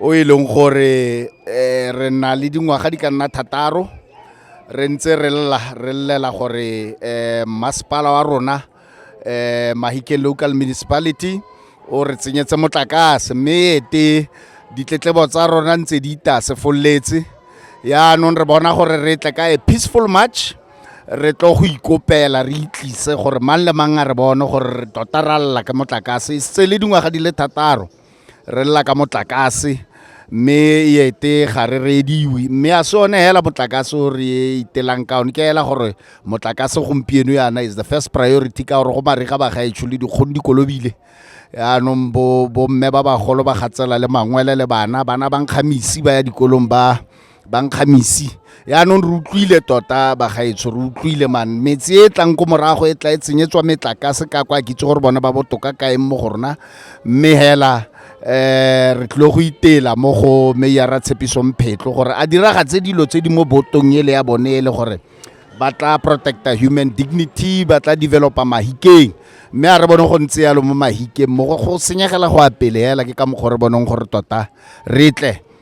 o e leng gore um re na le dingwaga di ka nna thataro re ntse re lla re llela gore um masepala wa rona um mahike local municipality o re tsenyetse motlakase mme ete ditletlebo tsa rona ntse di itasefololetse yaanong re bona gore re tle ka a peaceful march re tlo go ikopela re itlise gore mang le mang a re bone gore re tota ra lla ke motlakase e setse le dingwaga di le thataro re lela ka motlakase mme e ete ga re rediwe mme a se one hela motlakase o re e itelang ka one ke hela gore motlakase gompieno yana is the first priority ka gore go mariga ba gaetsho le dikgono dikolobile yaanong bo bomme ba bagolo ba gatsela le mangwele le bana bana ba nkgamisi ba ya dikolong ba ba nkgamisi yaanong re utlwile tota bagaetsho re utlwile man metse e tlang ko morago e tla e tsenyetswa metlakase ka kwa kitse gore bone ba botoka kaeng mo go rona mme hela um re tlile go itela mo go meyara tshepiso mphetlo gore a diragatse dilo tse di mo botong ele ya bone e le gore ba tla protecta human dignity ba tla developa mahikeng mme a re bone go ntse yalo mo mahikeng mo go senyegela go apele hela ke ka mokgwa re boneng gore tota re tle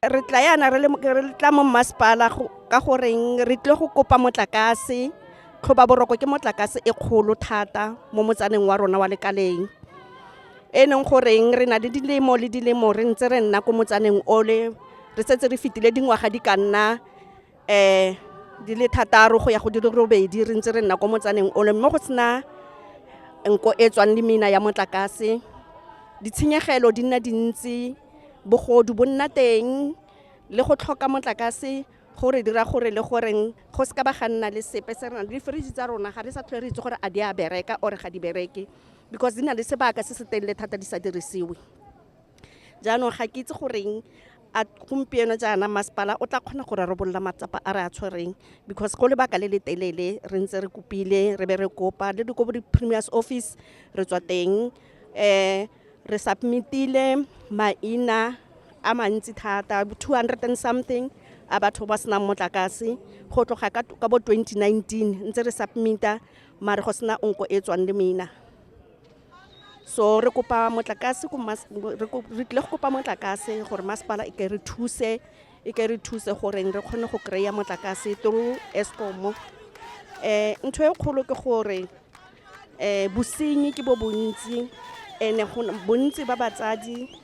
re tla yana re tla mo mmasepala ka goreng re tlile go kopa motlakase tlhoba boroko ke motlakase e kgolo thata mo motsaneng wa rona wa lekaleng e leng goreng re na le dilemo le dilemo re ntse re nna ko motsaneng ole re setse re fetile dingwaga di ka nna um di le thataro go ya go di le robedi re ntse re nna kwa motsaneng ole mo go sena nko e tswang le meina ya motlakase ditshenyegelo di nna dintsi bogodu bo nna teng le go tlhoka motlakase go re dira gore le goreng go se ka ba ga nna le sepe se rena di-fridge tsa rona ga re sa tlhole re itse gore a di a bereka or ga di bereke because di na le sebaka se se telele thata di sa dirisiwe jaanong ga ke itse goreng a gompieno jaana masepala o tla kgona go rarabolola matsapa a re a tshwereng because go lebaka le le telele re ntse re kopile re be re kopa le dikobo di-premiers office re tswa teng um re submitile maina a mantsi thata two hundred and something a batho ba senang motlakase go tloga ka ka bo 2019 ntse re submita mare go sena onko e tswang le maina so re kopa motlakase re tlile go kopa motlakase gore masepala e ke re thuse e ke re thuse goreng re kgone go kry-a motlakase through escom um ntho e kgolo ke gore um bosenyi ke bo bontsi and bontsi ba batsadi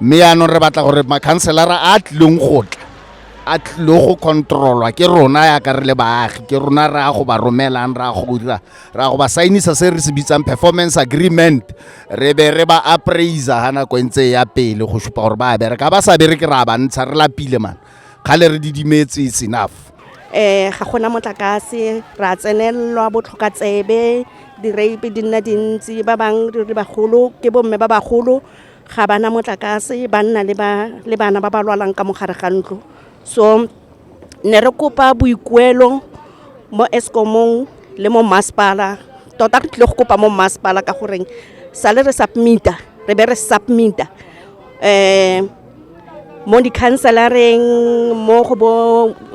mme yaanong re batla gore makhanselara a tlileng go tla a tlile go controlwa ke rona yaka re le baagi ke rona re ya go ba romelang re ya go dira re ya go ba sainisa se re se bitsang performance agreement re be re ba appraiser ga nako e ntse ya pele go supa gore ba bereka ba sa bereke ra ba ntsha re lapile man kgale re didimetse it's enough eh ga gona motlakase ra tsenelelwa botlhoka tsebe di-rape di nna dintsi ba bangwe re bagolo ke bomme ba bagolo ga ba na motlakase ba nna le bana ba ba lwalang ka mogare ga ntlo so ne re kopa boikuelo mo escomong le mo mmasepala tota re tlile go kopa mo mmasepala ka goreng sale re submita re be re submita um mo di-councelareng mo go bo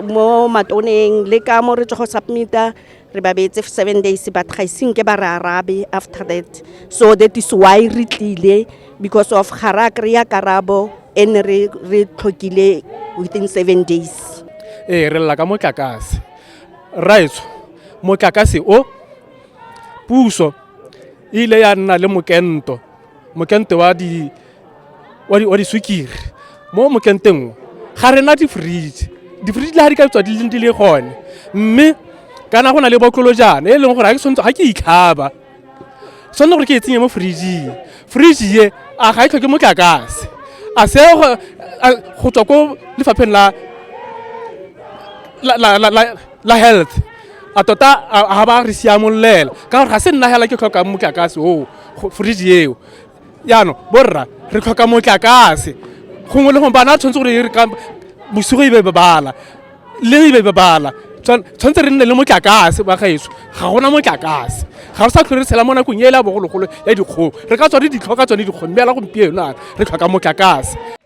mo matoneng le ka mo re tswa go submita re ba beetse seven days but ga isenke ba re arabe after that so that is why re tlile because of ga ra kry-a karabo e ne re tlhokile within seven days ee re lela ka motlakase raetsho motlakase o puso e ile ya nna le mokento mokento wa di wa diswikiri mo mokenteng o ga re na di-fridge di-fridge le ga di ka tswa di leng di le gone mme kana go na le botlolojana e leng gore ga ke itlhaba tshwanetse gore ke e tsenye mo fridging fridge ye a ga e tlhoke motlakase a se go tswa ko lefapheng la la health a tota ga ba re siamololela ka gore ga se nna hela ke tlhokang motlakase oo fridge eo jaanong borra re tlhoka motlakase gongwe le gongwe bana a tshwanetse gore re ka bosigo e be bebala le e be bebala tshwanetse re nne le motlakase ba gaetso ga gona motlakase ga re sa tlhole re tshela mo nakong e le ya bogologolo ya dikgong re ka tsone ditlhoka tsone dikgong mme ela gompieno re tlhoka motlakase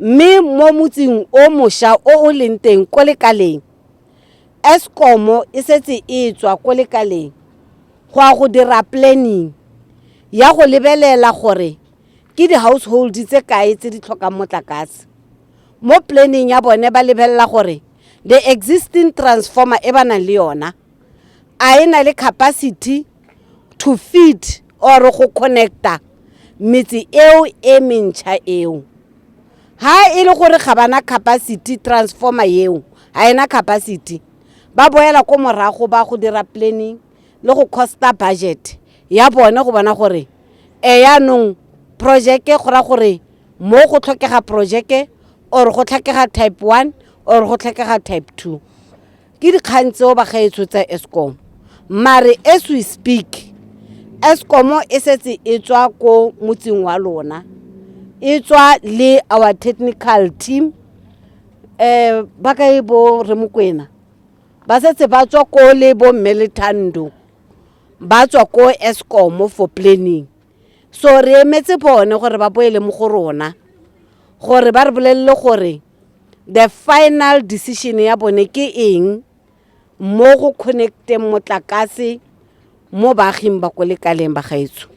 mme mo motsing o mošwa o o leng teng ko lekaleng escomo e setse e tswa ko lekaleng go ya go dira planning ya go lebelela gore ke di-household tse kae tse di tlhokang motlakase mo planning ya bone ba lebelela gore the existing transformer e ba nang le yona a e na le capacity to feed or go connecta metse eo e mentšha eo ha e le gore ga bana capacity transformer eo ga ena capacity ba boela ko morago ba go dira planning le go costa budget ya bone go bona gore e yaanong projeke go ra gore mo go tlhokega projeke or go tlhokega type one or go tlhokega type two ke dikgang tseo bagaetsho tsa escom mare as we speak escom e setse e tswa ko motseng wa lona e tswa le our technical team um ba kae bo re mokwena ba setse ba tswa ko le bo mme lethando ba tswa ko escom for planning so re emetse bone gore ba boele mo go rona gore ba re bolelele gore The final decision ya bone ke eng mo go connecteng motlakase mo baaging ba ko lekaleng ba gaetsho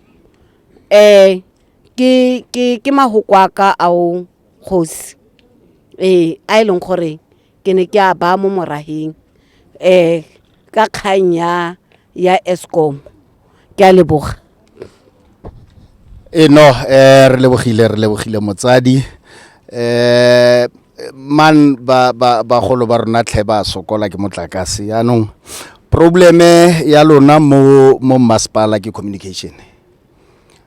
um ke ke ke mahoko a ka ao kgosi ee a e leng gore ke ne ke a baya mo morageng um ka kgang ya ya eskom ke a leboga e no eh re lebogile re lebogile motsadi eh man ba ba ba golo ba rona tlhe ba sokola ke motlakase yaanong probleme ya lona mo mo masepala ke communication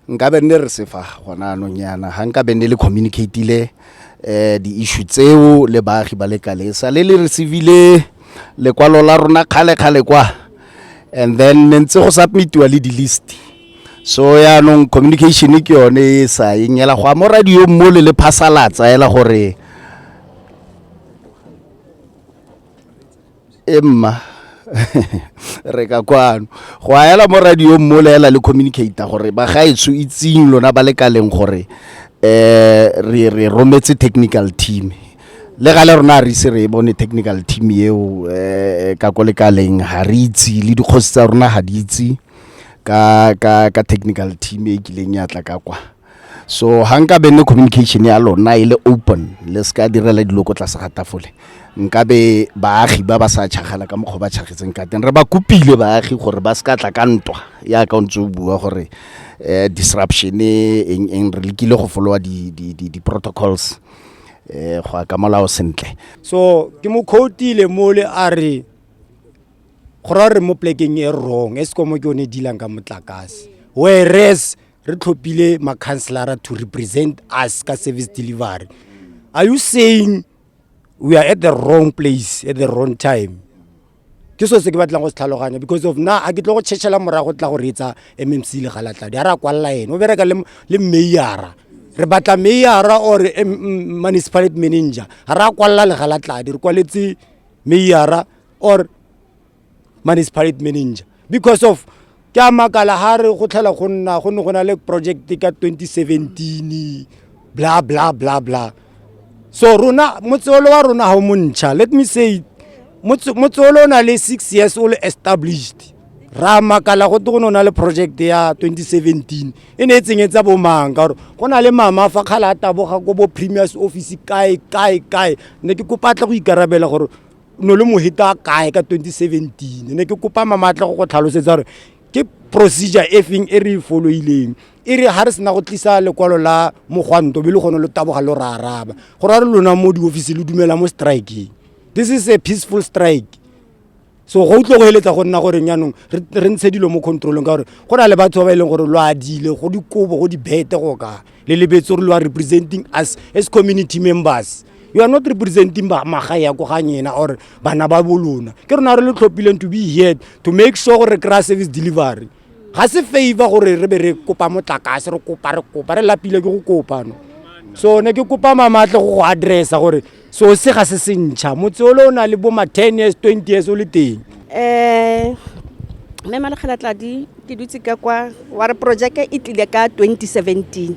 nka be nne re sefa gona anong yana ga nka be nne le communicatile um di-issue tseo le baagi ba le kalesa le le receivile lekwalo la rona kgale-kgale kwa and then ne ntse go submitiwa le di-list so yaanong communication ke yone e sa eng ela go a mo radio mo le le phasalatsa ela gore e mma re ka kwano go a ela mo radio mo le ela le communicator gore ba ga etso itseng lona ba le kaleng gore eh re re rometse technical team le ga le rona a re ise re bone technical team eo eh ka ko le kaleng ha re itse le dikgosi tsa rona ha di itse ka ka ka technical team e kileng ya tla ka kwa so ha nka be ne communication ya lona e le open le se ka direla dilo ko tlase ga tafole nka be baagi ba ba sa tšhagala ka mokgwa ba tšhagetseng ka teng re ba kopile baagi gore ba se ka tla ka ntwa ya ka o ntse o bua gore um disruption eng eng re lekile go folowa di-protocols um go ya ka molao sentle so ke mo khotile mole a re go ra re mo plekeng e wrong e sekomo ke yone dilang ka motlakase whereas re tlhophile ma-councelara to represent us ka service delivery are you saying we are at the wrong place at the wrong time ke so se ke batlang go se tlhaloganya because of na a ke tlo go tšhetšhela morago tla go reetsa mmc le galatladi a re a kwalela ene o bereka le meyara re batla meyara or municipality manager ga re a kwalela le galatladi re kwaletse meyara or municipality manager because of ke a makala ha re go tlhela go nna go ne go na le project ka 2017 bla bla bla bla so rona motseolo wa rona ga o montšha let me say motseolo o na le six years o le established ra makala go te go ne o na le project ya 2017 e ne e tsenyetsa bomang ka gore go na le mama fa kgale a taboga ko bo premiers office kae kae kae ne ke kopatla go ikarabela gore no le moheta kae ka 2017 ne ke kopa mamatla go go tlhalosetsa gore ke procedure e feng e re e foloileng e re ga re sena go tlisa lekwalo la mogwanto be le gone lo taboga lo ra araba go ra re lona mo diofisi le dumela mo strikeng this is a peaceful strike so go utlwe go eletsa go nna gore jaanong re ntshe dilo mo controlong ka gore go na le batho ba ba e leng gore lo adile go dikobo go dibete go kae le lebetse gore lo are representing us as community members you are not representing magae ya ko ga nyena or bana ba bolona ke rona re le tlhophileng to be here to make sure gore re kry-a service delivery ga se favor gore re be re kopa motlakase re kopa re kopa re lapile ke go kopano so ne ke kopa mamatle go go addressa gore so se ga se se ntšha motse o le o na le bo ma ten years twenty years o le teng um mme malekgelatladi ke dutse ka kwa wa re projeke e tlile ka twenty seventeen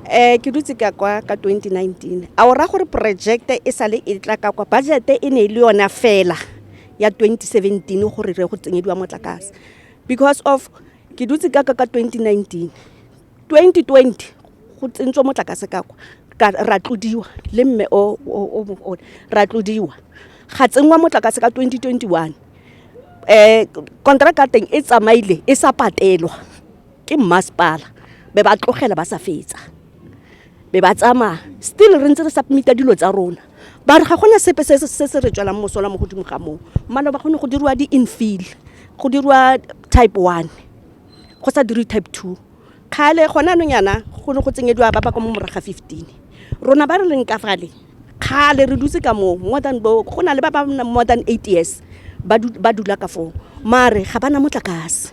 um ke dutse ka kwa ka twenty nineteen a o raya gore projeke e sale e tla ka kwa budgete e ne e le yona fela ya twenty seventeen gore re go tsenyediwa motlakase because of ke dutse ka ka ka twenty nineteen 2020 go tsentswe motlakase ka kwa ka ra tlodiwa le mme o o o ra tlodiwa ga tsenngwa motlakase ka 2021 eh kontraka teng e tsamaile e sa patelwa ke mmasepala be ba tlogela ba sa fetsa be ba tsamaya still re ntse re submita dilo tsa rona ba re ga gona sepe se se re tswelang mosola mo godimo ga moo maloba go ne go diriwa di-infield go diriwa type one go sa dirwe type two. Kgale gone anong yana go ne go tsenyediwa ba ba kwa mo morago ga fifteen. Rona ba re leng ka fale, kgale re dutse ka moo more than bo, go na le ba ba nnang more than eight years ba dula ka foo, mare ga ba na motlakase.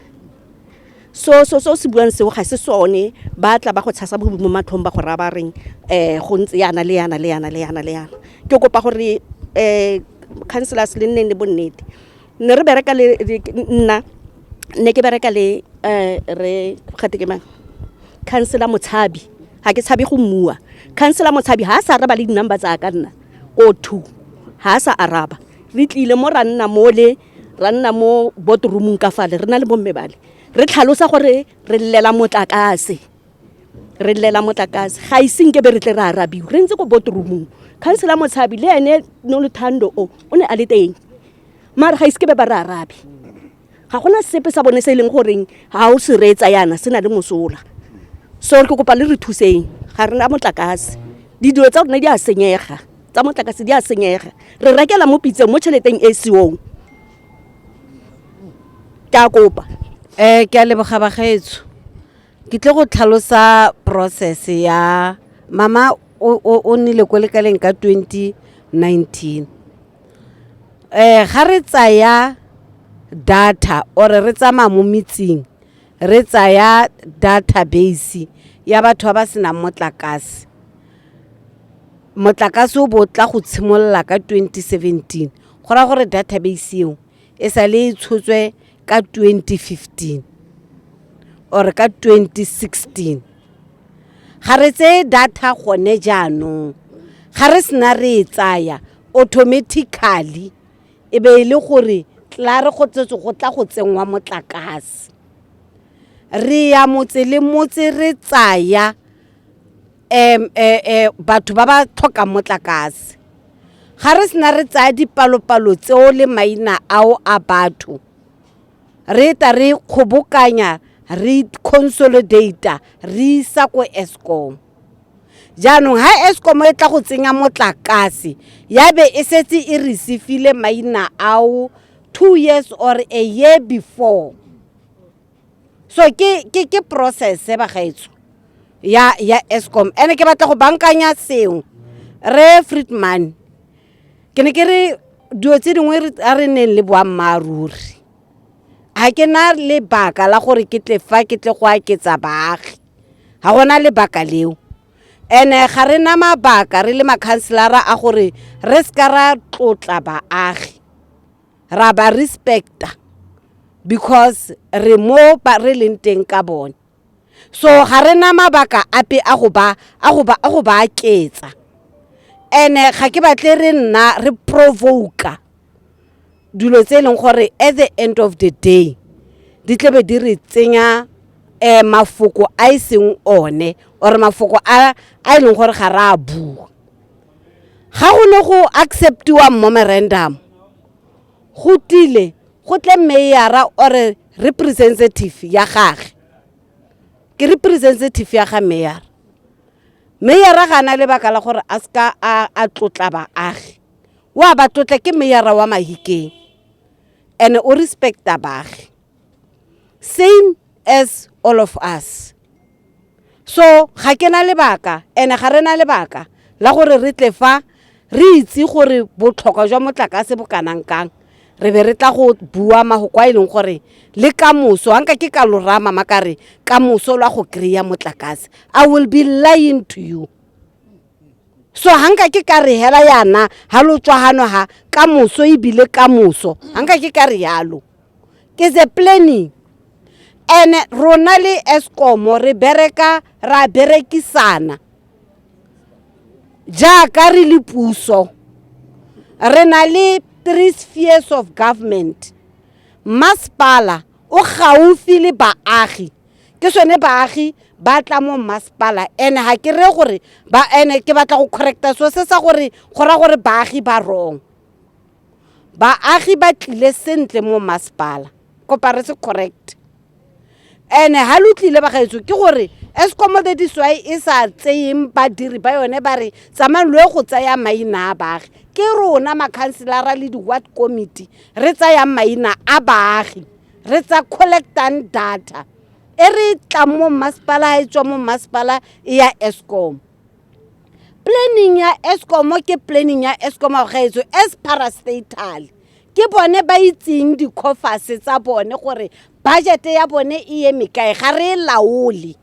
So selo se o se buang seo ga se sone, ba tla ba go tshasa bodutu mo matlhong ba go raya ba reng go ntse yana le yana le yana le yana le yana. Ke kopa gore councillors le nneng le bonnete. ne re bereka le nna ne ke bereka le um re gate ke mang councilor motshabi ga ke tshabe go mmua councilor motshabi ga a sa araba le di-number tsa ka nna o two ga a sa araba re tlile mo ra nna mole ra nna mo botroomong ka fale re na le bomme bale re tlhalosa gore re llela motlakase re lela motlakase ga ise nke be re tle re arabiwe re ntse ko botromong councilor motshabi le ene noluthando o o ne a le teng mare ga ise ke be ba re arabe ga gona sepe sa bone se e leng goreng ga o se reetsa yana se na le mosola so ke kopa le re thuseng ga rena motlakase didilo tsa rona di a senyega tsa motlakase di a senyega re rekela mo pitseng mo tšheleteng e seong ke a kopa um ke a leboga bagaetso Ke tle go tlhalosa process ya mama o, o, o nnile ko lekaleng ka 2019 eh ga re tsaya data or re tsamaya mo metseng re tsaya database ya batho ba ba senang motlakase motlakase o bo tla go tshimolola ka 2017 go raya gore database eo e sa le e tshotswe ka 2015 or ka 2016 ga re tseye data gone jaanong ga re sena re e tsaya automatically e be e le gore tla re go tsetse go tla go tsenngwa motlakase re ya motse le motse re tsaya um batho ba ba tlhokang motlakase ga re sena re tsaya dipalopalo tseo le maina ao a batho re ta re kgobokanya re consolidata re isa ko escom jaanong ha escom e tla go tsenya motlakase ya be e setse e receive-ile maina ao two years or a year before so ke ke ke process ba gaetso ya ya Eskom ene ke batla go bankanya sengwe re Friedman ke ne ke re dilo tse dingwe a re neng le boammaaruri ga ke na lebaka la gore ke tle fa ke tle go aketsa baagi ga gona lebaka leo ene ga re na mabaka re le makhanselara a gore re se ka ra tlotla baagi ra ba respecta because re mo ba re leng teng ka bone so ga re na mabaka ape a go ba a go ba a go ba aketsa ene ga ke batle re nna re provoka dilo tse e leng gore at the end of the day di tlebe di re tsenya eh mafoko a e seng one or mafoko a a e leng gore ga ra bua Ga go ne go acceptiwa memorandum go tlile go tle meyara ore representative ya gage ke representative ya ga meyara meyara ga na lebaka la gore a seka a tlotla baagi wa ba tlotla ke meyara wa mahikeng and o respecta baagi same as all of us so ga ke na lebaka ene ga re na lebaka la gore re tle fa re itse gore botlhokwa jwa motlakase bo kanang kang re be re tla go bua magoko a e leng gore le ka moso ga nka ke ka lorama makare ka moso lwa go kry-a motlakase i will be lying to you so ga nka ke ka re hela yana ga lo tswagano ga ka moso ebile ka moso ga nka ke ka re yalo ke the planning and rona le Eskom re bereka ra berekisana jaaka re le puso re na le three spheres of government masepala o gaufi le baagi ke sone baagi ba tla mo masepala and ga ke re gore ba ene ke batla go correcta so se sa gore go ra gore baagi ba wrong baagi ba tlile sentle mo masepala kopa re se correct ene ha lo tlile bagaetso ke gore escom that is why e sa tseyeng badiri ba yone ba re tsamayng lo ye go tsaya maina a baagi ke rona makhanselara le di-ward committee re tsayang maina a baagi re tsa collectang data e re tlang mo mmasepala ha e tswa mo mmasepala e ya escom planning ya escom ke planning ya escom a gaetso as parastatal ke bone ba itseng di-coffers tsa bone gore budget ya bone e ye mekae ga re e laole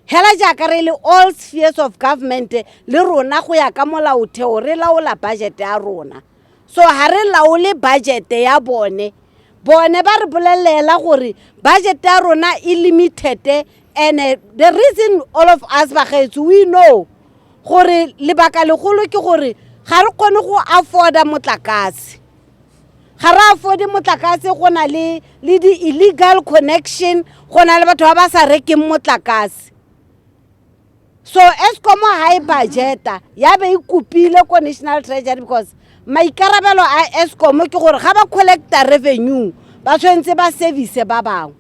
hela jaaka re le all spheres of government le rona go ya ka molaotheo re laola budget ya rona so ga re laole budgete ya bone bone ba re bolelela gore budget ya rona e limited and eh, the reason all of us bagaetso we know gore lebaka legolo ke gore ga re kgone go afforda motlakase ga re afode motlakase go na le le di-illegal connection go na le batho ba ba sa rekeng motlakase so escom ha e budgeta ya be e kopile ko national treasury because maikarabelo a escom ke gore ga ba collecta revenue ba tshwanetse ba service ba bangwe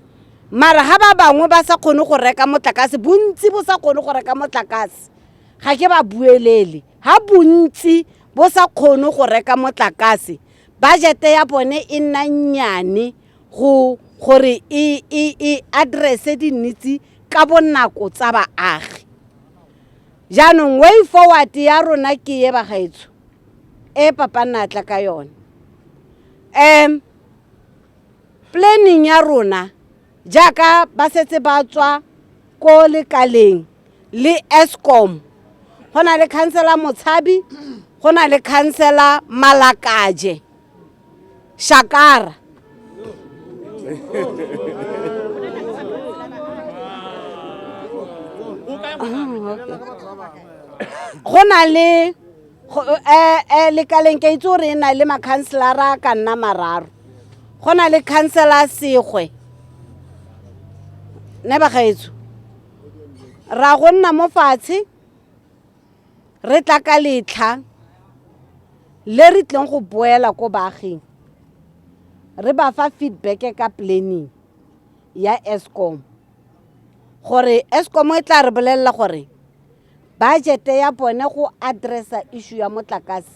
mara ga ba bangwe ba sa kgone go reka motlakase bontsi bo sa kgone go reka motlakase ga ke ba buelele ga bontsi bo sa kgone go reka motlakase budgete ya bone e nna nnyane go gore e, e, e addresse dinnitse ka bonako tsa baagi jaanong way forward ya rona ke ye bagaetsho e papa nna tla ka yone um planning ya rona jaaka ba setse ba tswa ko lekaleng le escom go na le khansela motshabi go na le khansela malakaje shakara go na le eh, eh, lekaleng ke itse gore e na le makhanselara ka nna mararo go na le khansela segwe ne bagaetso ra go nna mo fatshe Re tla ka letlha le re tleng go boela ko baaging re ba fa feedback ka planning ya Eskom gore Eskom e tla re bolelela gore budget ya bone go addressa issue ya motlakase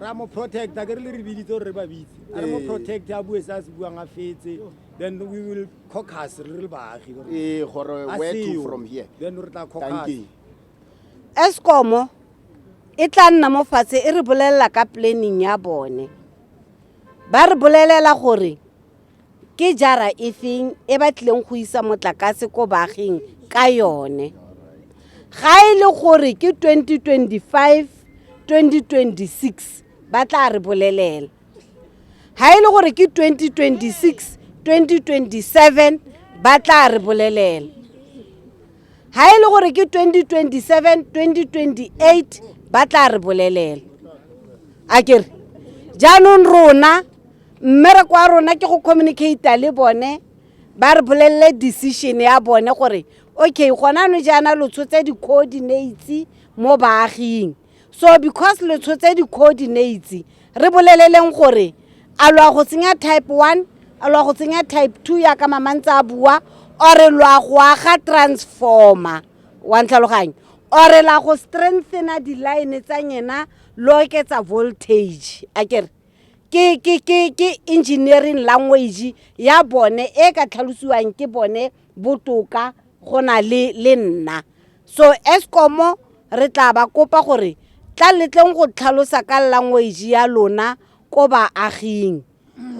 ra mo protect a ke re le re biditse gore re ba bitse a re mo Ee. protect a bue se a se buang a fetse then we will caucus re le baagi gore ee gore a where to seo. from here then re tla caucus tankeng escomo e tla nna mo fatshe e re bolelela ka planning ya bone ba re bolelela gore Ke jara e feng e ba tlileng go isa motlakase ko baaging ka yone? Ga e le gore ke 2025, 2026 ba tla re bolelela. Ga e le gore ke 2026, 2027 ba tla re bolelela. Ga e le gore ke 2027, 2028 ba tla re bolelela. A kere jaanong rona mmereko wa rona ke go communicate le bone ba re bolelele decision ya bone gore okay gona no jaana lo tshotse di-coordinates mo baaging so because lo tshotse di-coordinates re boleleleng gore a lo a go tsenya type one a lo a go tsenya type two yaka mamantse a bua ore lo a go aga transformer wa ntlhaloganyo ore la go strengthena di-line tsa nyena lo oketsa voltage a kere ke ke ke ke engineering language ya bone e ka tlhalosiwang ke bone botoka go na le le nna so escomo re tla ba kopa gore tla letleng go tlhalosa ka language ya lona ko baaging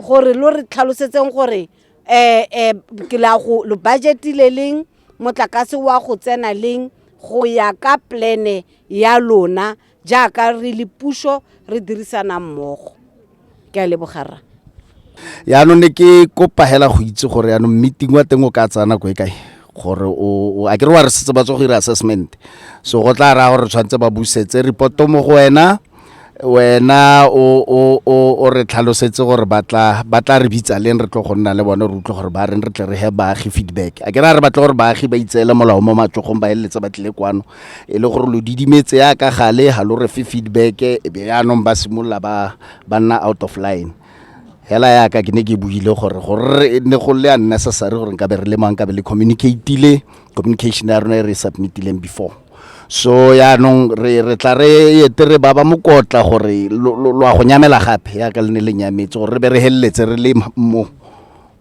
gore lo re tlhalosetseng gore eh eh ke la go lo budgetile leng motlakase wa go tsena leng go ya ka plane ya lona Jaaka re le puso re dirisana mmogo. Ke a leboga rra. Yaanong ne ke kopa hela go itse gore yaanong meeting wa teng o ka tsaya nako e kae gore o a kere wa re setse ba tswa go ira assessment so go tla raya gore tshwanetse ba busetse reporto mo go wena wena o re tlhalosetse gore ba tla re bitsa leng re tlo go nna le bone re utlwe gore ba reng re tle re he baagi feedback a ke ra re batle gore baagi ba itseele molao mo matsogong ba feleletse ba tlile kwano e le gore lo didimetse ya ka gale ga lo re fe feedback e be yaanong ba simolola ba ba nna out of line hela yaka ke ne ke buile gore gore ne go le unnecessary gore nkabe re le mang kabe le communicatile communication ya rona e re submitileng before so yaanong re re tla re ete re baba mokotla gore lo a go nyamela gape yaka le ne le nyametse gore re be re heleletse re le mo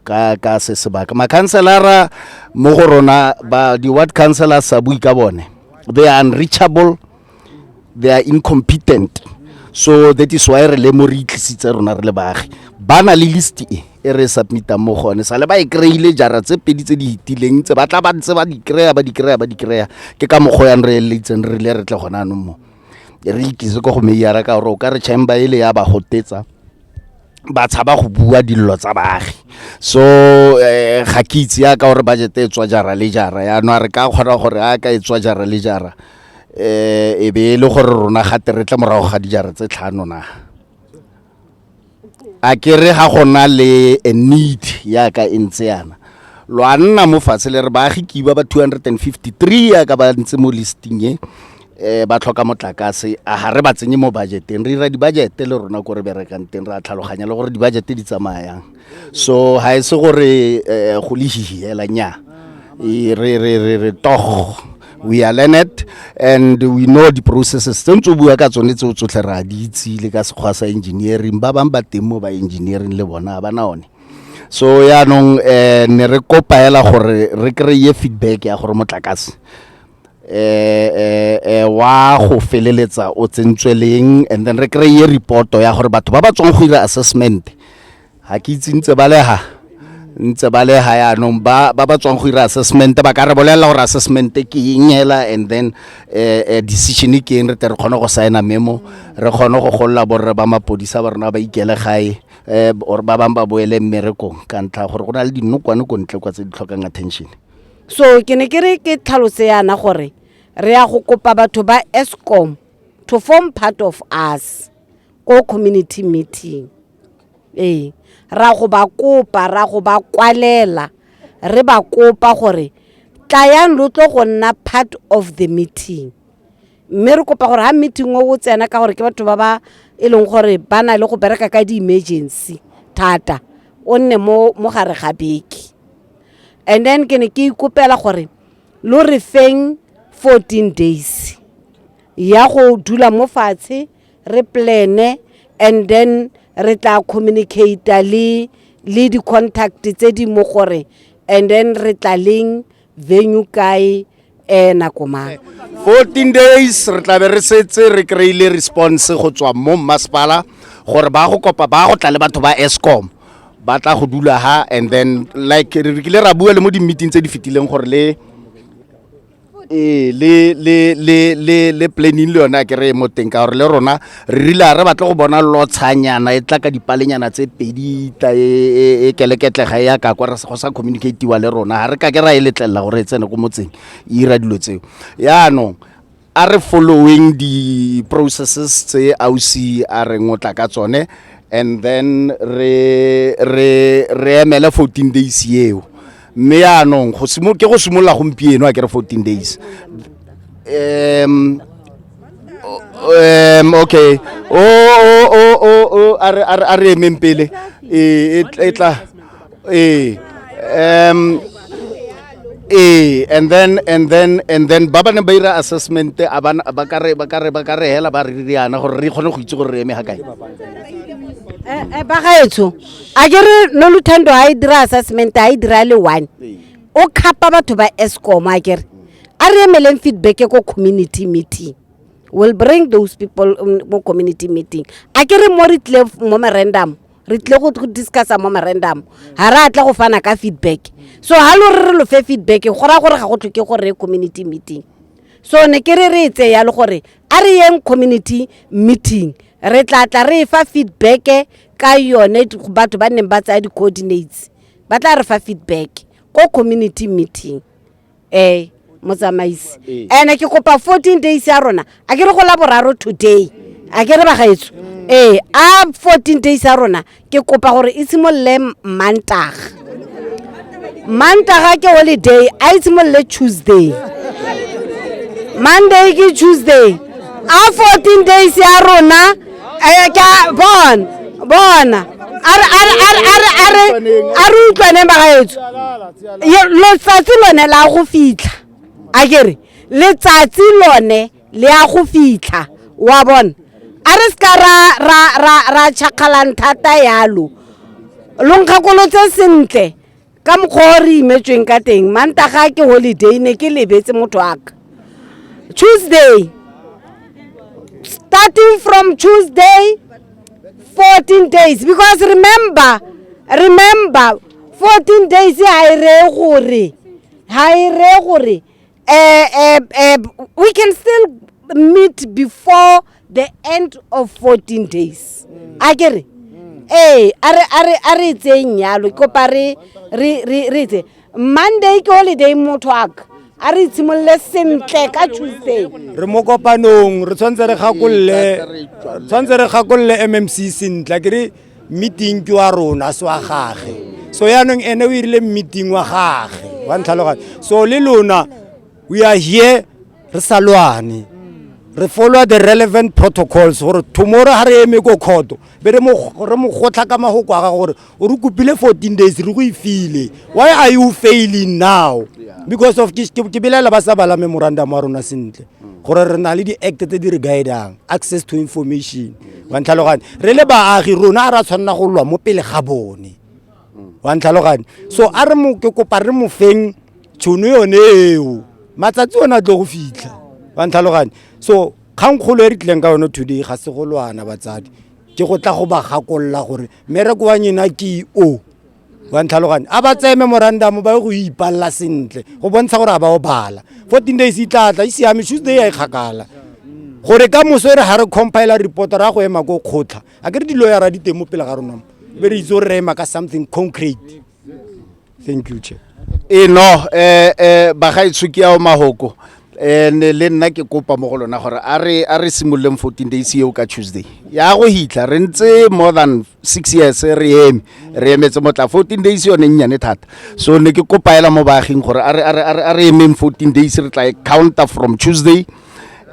ka ka se sebaka makhanselara mo go rona ba di-ward councilors sa bui ka bone they are unreachable they are incompetent so that is why re le mo re itlisitse rona re le baagi ba na le list e e re submitang mo gone sa le ba e kry-ile jara tse pedi tse di itileng tse ba tla ba ntse ba di kry-a ba di kry-a ba di kry-a ke ka mokgwa yang re eletseng re rile re tle gone anong mo re ikise ko go meiara ka gore o ka re chamber ele ya ba gotetsa ba tshaba go bua dillo tsa baagi so eh, ga ke itse ya ka gore budget e tswa jara le jara yaanong a re ka kgona gore a ka e tswa jara le jara um e be e le gore rona gate re tle morago ga dijara tse tlhano na a ke re ga go na le a need yaka e ntse yana lo a nna mo fatshe le re baagi kiba ba 253 yaka ba ntse mo listing e um ba tlhoka motlakase a ga re ba tsenye mo budgeteng re dira dibajete le rona ko re berekang teng re a tlhaloganya le gore dibajete di tsamayang so ga e se gore um go le hihiela nya e, re re re re togo we are learned and we know di-processes tse ntse o bua ka tsone tseo tsotlhe re a di itse le ka sekgwa sa engineering ba bangwe ba teng mo ba engineering le bona ba na one so yaanong um ne re kopaela gore re kry-e feedback ya gore motlakase eh eh wa go feleletsa o tsentswe leng and then re kry-e reporto ya gore batho ba ba tswang go dira assessment ga ke itse ntse ba lega ntse ba lega yaanong ba ba ba tswang go dira assessment ba ka re bolelela gore assessment ke eng hela and then eh decision ke eng re tle re kgone go signa memo re kgone go golola borre ba mapodisa ba rona ba ikele gae um or ba bangwe ba boele mmerekong ka ntlha gore go na le dinokwane ko ntle kwa tse di tlhokang attention so ke ne ke re ke tlhalose yana gore re ya go kopa batho ba escom to form part of us ko community meeting ee ra go ba kopa ra go ba kwalela re ba kopa gore tlayang lo tlo go nna part of the meeting mme re kopa gore ga meeting o o tsena ka gore ke batho ba ba e leng gore ba na le go bereka ka di-emergency thata o nne mo gare ga beke and then ke ne ke ikopela gore lo re feng 14 days ya go dula mo fatshe re plane and then re tla communicate le le di-contact tse di mo gore and then re tla leng venue kae e nako mang 14 days re tla be re setse re kry-ile response go tswa mo mmasepala gore ba go kopa ba go tla le batho ba escom ba tla go dula ha and then like re kile ra bua le mo di-meeting tse di fetileng gore le ee le le le le le planning le yone a kere e mo teng ka gore le rona re rile a re batle go bona lotshanyana e tla ka dipalenyana tse pedi tla e, e, e keleketlega e ya ka kwa re go sa communicatiwa le rona ga re ka ke ra e letlelela gore e tsene ko motseng e ira dilo tseo yaanong a re following di-processes tse ausi a re ngotla ka tsone and then re re re emele 14 days eo mme yaanong ke go simolola gompieno a kere fourteen days um um okay o o o o a re a re emeng pele e e tla e um ee and then and then and then ba ba ne ba ira assessment a ba ba ka re ba ka re ba ka re hela ba re riana gore re kgone go itse gore re eme ha kae eh, eh, ba gaetsho a ke re no luthando a e dira assessment a e dira le one o khapa batho ba escom a ke re a re emeleng feedback e ko community meeting will bring those people um, mo community meeting a ke re mo re tlile f- mo merendamo re tlile go go discussa mo merendamo ga re a tla go fana ka feedback so ga lo re re lo fe feedback go raya gore ga go tlhoke gore ye community meeting so ne ke re re e tseye yalo gore a re yeng community meeting re tla tla re e fa feedback ka yone batho ba neng ba tsaya di-coordinates ba tla re fa feedback ko community meeting um motsamaisi ee. and-e ke kopa fourteen days ya rona a ke re go la boraro today a ke re bagaetso ee a fourteen days ya rona ke kopa gore e simolole mantaga mantaga ke holiday a e tshimolole tuesday monday ke tuesday a 14 days ya rona eh, ke a- bon bona a re- a re- a re- a re- a re a re utlwaneng bagaetso Ye- letsatsi lone la go fitlha a kere letsatsi lone le ya go fitlha wa bona a re seka ra ra ra ra chakgalang thata yalo lo nkgakolotse sentle ka mokgwa o re imetsweng ka teng mantaga ke holiday ne ke lebetse motho aka tuesday starting from tuesday 14 days because remember remember 14 days ha e re gore ha e re gore Uh, uh, uh, we can still meet before the end of 14 days mm. a ke re mm. ee a re etseng yalo kopa re etse monday ke holiday mo talk a re itshimolole sentle ka tuesday re mo kopanong re tshwanetse re gakolole tshwanetse re gakolole mmc sentle ke re meeting ke wa rona se wa gage so yaanong ene o irile meeting wa gage wa ntlhaloganye so le lona we are here re sa lwane re follow the relevant protocols gore tomorrow ga re eme ko kgoto be re mo gotlha ka magoko a ga gore o re kopile fourteen days re go e file why are you failing now because of ke belela ba sa bala memorandum wa rona sentle gore re na le di-act tse di re guidang access to information wa ntlhalogane re le baagi rona a ra tshwanela go lwa mo pele ga bone wa ntlhalogane so a re mo ke kopa re mo feng tšhono yone eo matsatsi one a tlo go fitlha wa ntlhalogane so kgangkgolo e re tlileng ka yone today ga se go lwana batsadi ke go tla go ba gakolola gore mmereko wa nyena ke o wa ntlhaloganye a ba tseye memorandum ba ye go ipalela sentle go bontsha gore a ba o bala fourteen days e tlatla e siame tuesday ya e kgakala gore ka moso e re ga re compile report ra go ema ko kgotlha a ke re diloyara di teng mo pele ga rona be re itse gore re ema ka something concrete thank you chair e no eh eh bagaitsho ke ao mahoko eh ne le nna ke kopa mo go lona gore a re a re simololeng 14 days eo ka tuesday ya go hitla re ntse more than six years re eme re emetse motla fourteen days yone nnyane thata so ne ke kopaela mo baaging gore a re emeng fourteen days re tla e counter from tuesday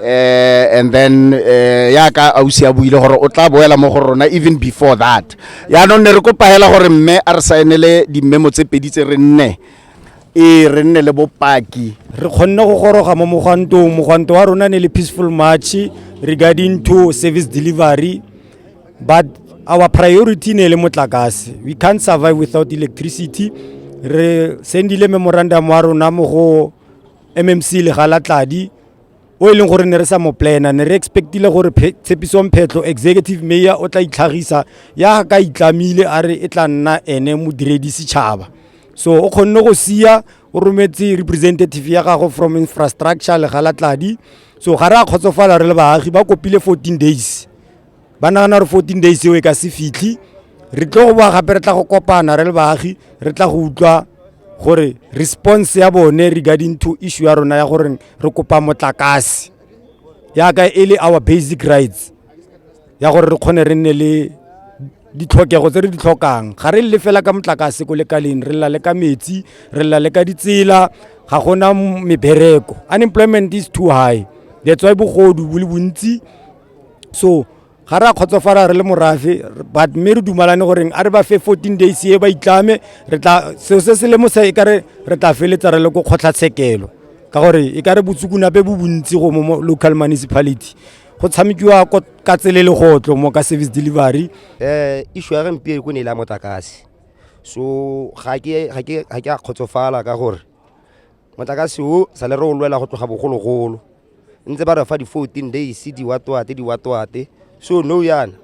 uh, and then eh, ya ka ausi a buile gore o tla boela mo go rona even before that yaanong ne re kopa hela gore mme a re saenele dimmemo tse pedi tse re nne e re nne le bopaki re kgonne go goroga mo mogwantong mogwanto wa rona ne le peaceful march regarding to service delivery but our priority ne le motlakase we can't survive without electricity re sendile memorandum wa rona mo go mmc le galatladi o e leng gore ne re sa mo plana ne re expectile gore tshepisong phetlho executive mayor o tla itlhagisa ya ka itlamile a re e tla nna ene modiredi setšhaba so o kgonne go sia o rometse representative ya gago from infrastructure legalatladi so ga re a kgotsofala re le baagi ba kopile 14 days ba nagana gore fourteen days eo e ka se fitlhe re tlo go boa gape re tla go kopana re le baagi re tla go utlwa gore response ya bone regarding to issue ya rona ya gore re kopa motlakase yaka e le our basic rights ya gore re kgone re nne le ditlhokego tse re di tlhokang ga re le fela ka motlakase ko lekaleng re lela le ka metsi re lela le ka ditsela ga gona mebereko unemployment is too high that's why bogodu bo le bontsi so ga re a kgotsofala re le morafe but mme re dumalane goreng a re ba fe fourteen days e ba itlame re tla seo se se lemosa e kare re tla feletsa re le ko kgotlhatshekelo ka gore e kare botsukunape bo bontsi go mo local municipality go tshamekiwa ka tsele le gotlo mo ka service delivery um issue ya gompieno ko ne e le ya motlakase so ga ke a kgotsofala ka gore motlakase o sa le re o lwela go tloga bogologolo ntse ba re fa di-fourteen days diwatoate diwatoate so no yana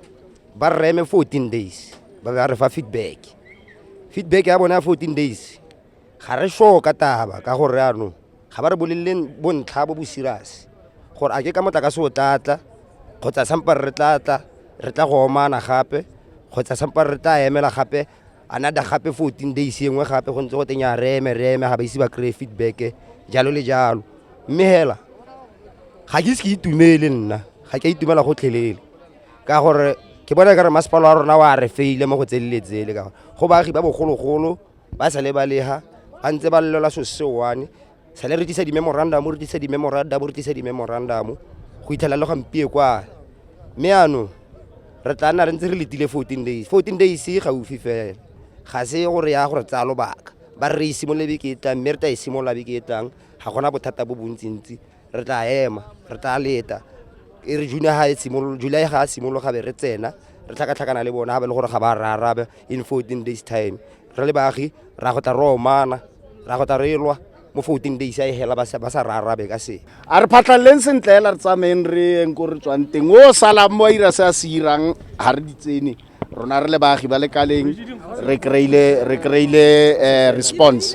ba reme fourteen days ba ba re fa feedback feedback ya bone ya fourteen days ga re sure ka taba ka gore anong ga ba re bolelele bontlha bo bo serious gore a ke ka motlakase o tlatla kgotsa sampa re tlatla re tla go omana gape kgotsa sampa re tla emela gape another gape 14 days engwe gape go ntse go teng ya reme reme ga ba ise ba kry feedback jalo le jalo mme hela ga ke ise ke itumele nna ga ke itumela gotlhelele ka gore ke bona ka re masepalo wa rona wa re feile mo go tseleletsele ka gore go baagi ba bogologolo ba sa le ba leha ba ntse ba llela so se one sale re tlisa di-memorandum re tlisa di-memorandum re tlisa di-memorandum go itlhela le gampie kwa mme ano re tla nna re ntse re letile fourteen days fourteen days e gaufi fela ga se gore ya gore tsaya lobaka ba re re simolole beke e tlang mme re tla e simolola beke e tlang ga gona bothata bo bontsintsi re tla ema re tla leta e re june ga e simololo july ga a simologa be re tsena re tlhakatlhakana le bona ga ba le gore ga ba re arabe in fourteen days time re le baagi ra go tla re omana ra go tla re lwa mo fourteen days a e hela ba sa ba sa re arabe ka se a re phatlhaleleng sentle hela re tsamayeng re yeng ko re tswang teng o salang mo a ira se a se irang ga re di tsene rona re le baagi ba lekaleng re kry-ile re kry-ile eh, response